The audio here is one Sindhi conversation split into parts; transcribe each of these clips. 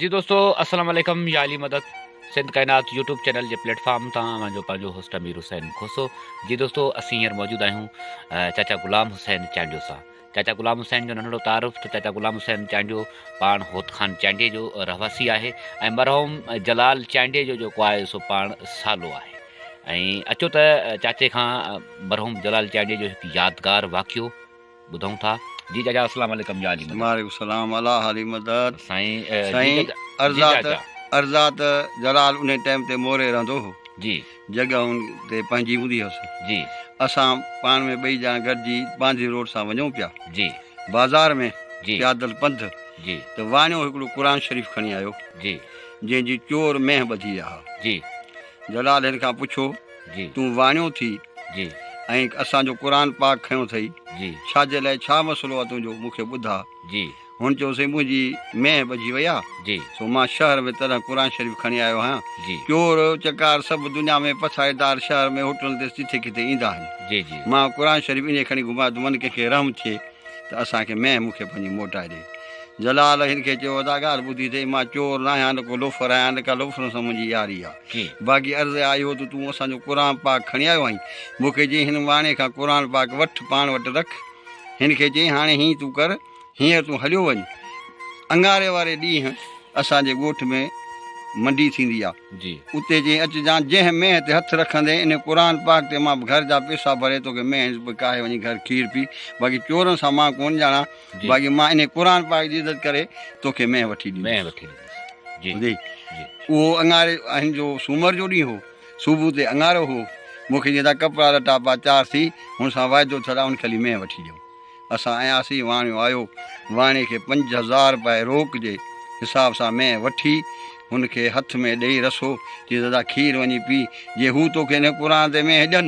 جي دوستو السلام عليڪم يا علي مدد سنڌ ڪائنات يوٽيوب چينل جي پليٽ فارم تان اوهان جو پنهنجو هوسٽ امير حسين کوسو جي دوستو اسين هينئر موجود آهيون چاچا غلام حسين چانڊيو سان چاچا غلام حسين جو ننڍڙو تعارف ته چاچا غلام حسين چانڊيو پاڻ هوت خان چانڊيي جو رهواسي آهي ۽ مرحوم جلال چانڊيي جو جيڪو آهي سو پاڻ سالو آهي ۽ اچو ته چاچي کان مرحوم جلال چانڊيي جو هڪ يادگار واقعو ٻڌون ٿا جي جاجا اسلام عليڪم جا علي مدد. وعليڪم السلام الله علي مدد سائين سائين ارزات ارزات جلال انهي ٽيم تي موري رهندو هو جي جڳهه ان تي پنهنجي هوندي هيس جي اسان پاڻ ۾ ٻئي ڄڻا گڏجي باندي روڊ سان وڃون پيا جي بازار ۾ جي پيادل پنڌ جي ته واڻيو هڪڙو قرآن شريف کڻي آيو جي جنهن جي چور مينهن ٻڌي آ جي جلال هن کان پڇيو جي. تون واڻيو ٿي جي. ۽ اسان جو قرآن پاڪ کنيو اٿئي جي. ڇا جي لاء ڇا مسئلو آ تنهنجو مون کي ٻڌاء جي. هن چيو سائين منهنجي مينهن ٻجهي وئي آ جي. سو مان شهر ۾ تڏهن قرآن شريف کڻي آيو آهيان جي. چور چڪار سڀ دنيا ۾ پسائيدار شهر ۾ هوٽلن تي جٿي ڪٿي ايندا آهن جي جي. مان قرآن شريف انهي کڻي گهمايو ته من ڪنهن کي رحم ٿئي ته اسان کي مينهن مون کي پنهنجي موٽائي ڏي. جلال هن کي چيو ادا ڳالهه ٻڌي اٿئي مان چور ناهيان نه ڪو لوفر آهيان نه ڪا لوفرن سان منهنجي ياري آ. باقي عرض اها آئي هو ته تون اسان جو قرآن پاڪ کڻي آيو آهين. مون کي چيائين هن واڻي کان قرآن پاڪ وٺ پاڻ وٽ رک. هن کي چيائين هاڻي هيئن تون ڪر هينئر تون هليو وڃ. اڱاري واري ڏينهن اسان جي ڳوٺ ۾ منڊي ٿيندي آهي. اتي چيائين اچجان جنهن مينهن تي هٿ رکندين انهي قرآن پاڪ تي مان به گهر جا پيسا ڀري توکي مينهن به ڪاهي وڃي گهر کير پي باقي چورن سان مان ڪونه ڄاڻان باقي مان انهي قرآن پاڪ جي عزت ڪري توکي مينهن وٺي ڏيندس. اهو اڱاري آهن جو سومر جو ڏينهن هو. صبح تي اڱارو هو. مون کي چيائين ته ڪپڙا لٽا پا تيار ٿي، هن سان واعدو ٿيل آهي هن کي هلي مينهن وٺي ڏيو. اسان آياسين، واڻيو آيو. واڻي کي پنج هزار روپيه روڪ جي حساب سان مينهن وٺي، هن کي هٿ ۾ ڏيئي رسو، چيس دادا کير وڃي پي، جي هو توکي هن قرآن تي مينهن ڏين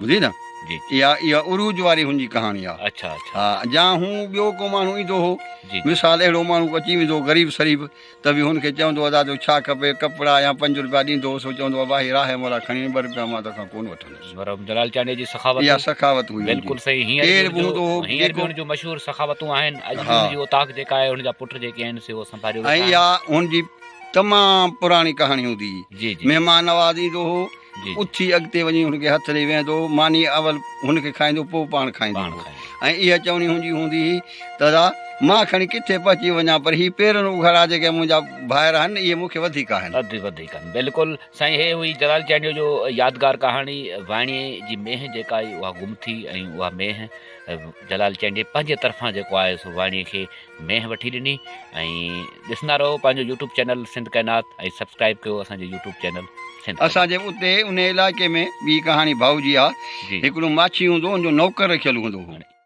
ٻڌي نه اها اها عروج واري هن جي ڪهاڻي آ ها جا هون ٻيو ڪو ماڻهو ايندو هو مثال اهڙو ماڻهو اچي ويندو غريب سريب ته به هن کي چوندو ادا تو ڇا کپي ڪپڙا يا پنج روپيا ڏيندو هو سو چوندو اڀا هي راهي مولا کڻي وڃ ٻه روپيا مان تو کان ڪون وٺندس مرحوم جلال چانڊيو جي سخاوت اها سخاوت هئي بلڪل صحيح هينئر به هوندو هو هينئر به هن جون مشهور سخاوتون آهن اڄ به هن جي اوطاق جيڪا آهي هن جا پٽ جيڪي آهن سي اهو سنڀاليو ويٺا آهن ۽ اها هن جي تمام پراڻي ڪهاڻي هوندي هئي مهمان نواز ايندو هو اٿي اڳتي وڃي هن کي هٿ ڏئي ويهندو هو، ماني اول هن کي کائيندو پوء پاڻ کائيندو هو ۽ اها چوڻي هن جي هوندي هئي ته ادا مان کڻي ڪٿي پهچي وڃان پر هي پيرن اگهاڙا جيڪي منهنجا ڀائر آهن اهي مون کي وڌيڪ آهن. بلڪل سائين هي هئي جلال چانڊيو جو يادگار ڪهاڻي وائڻي جي مينهن جيڪا آئي اها گم ٿي ۽ اها مينهن جلال چانڊيي پنهنجي طرفان جيڪو آهي سو وائڻي کي مينهن وٺي ڏني ۽ ڏسندا رهو پنهنجو يوٽيوب چينل سنڌ ڪائنات ۽ سبسڪرائب ڪيو اسان جو يوٽيوب چينل سنڌ اسان جي اتي انهي علائقي ۾ ٻي ڪهاڻي ڀائو جي آ جي هڪڙو ماڇي هوندو هو ان جو نوڪر رکيل هوندو هو.